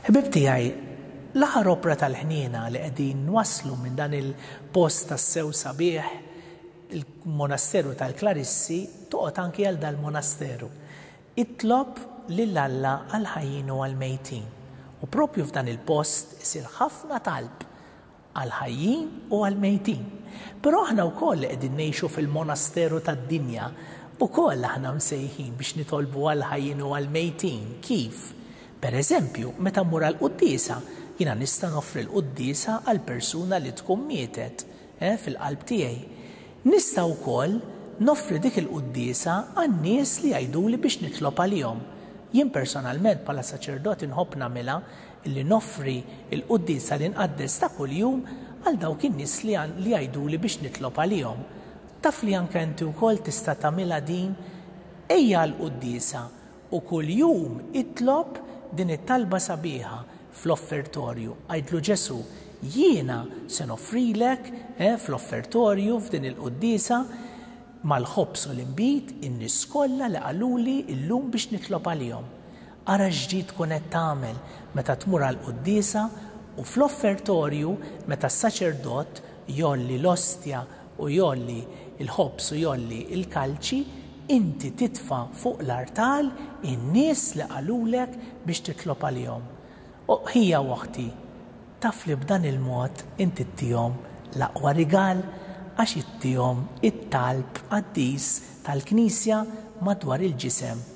Ħbib tiegħi, l-aħħar opra tal-ħniena li qegħdin nwasslu minn dan il-post tas-sew sabiħ il-monasteru tal-Klarissi toqgħod anki għal dal-monasteru. Itlob lil Alla għall-ħajjin u għall-mejtin, u proprju f'dan il-post isir ħafna talb għall-ħajjin u għall-mejtin. Però aħna wkoll li qegħdin ngħixu fil-monasteru tad-dinja, ukoll aħna msejħin biex nitolbu għall-ħajjin u għall-mejtin. Kif? Per eżempju, meta mmur għall-quddiesa, jiena nista' noffri l-quddiesa għall-persuna li tkun mietet, eh, fil-qalb tiegħi. Nista' wkoll noffri dik il-quddiesa għan-nies li jgħiduli biex nitlob għalihom. Jien personalment bħala saċerdot inħobb nagħmilha li noffri l-quddiesa li nqaddes ta' kuljum għal dawk in-nies li li jgħiduli biex nitlob għalihom. Taf li anke inti wkoll tista' tagħmilha din? Ejja għall-quddiesa U kuljum itlob din it-talba sabiħa fl-offertorju. Għidlu Ġesù, Jiena se noffrilek, eh, fl-offertorju, f'din il-quddiesa, mal-ħobż u l-inbid, in-nies kollha li qaluli llum biex nitlob għalihom. Ara x'ġid tkun qed tagħmel meta tmur għall-quddiesa u fl-offertorju meta s-saċerdot jgħolli l-ostja u jgħolli l-ħobż u jgħolli l-kalċi, inti titfa' fuq l-artal in-nies li qalulek biex titlob għalihom. O ħija u oħti, taf li b'dan il-mod inti ttihom l-aqwa rigal għax ittihom it-talb qaddis tal-Knisja madwar il-ġisem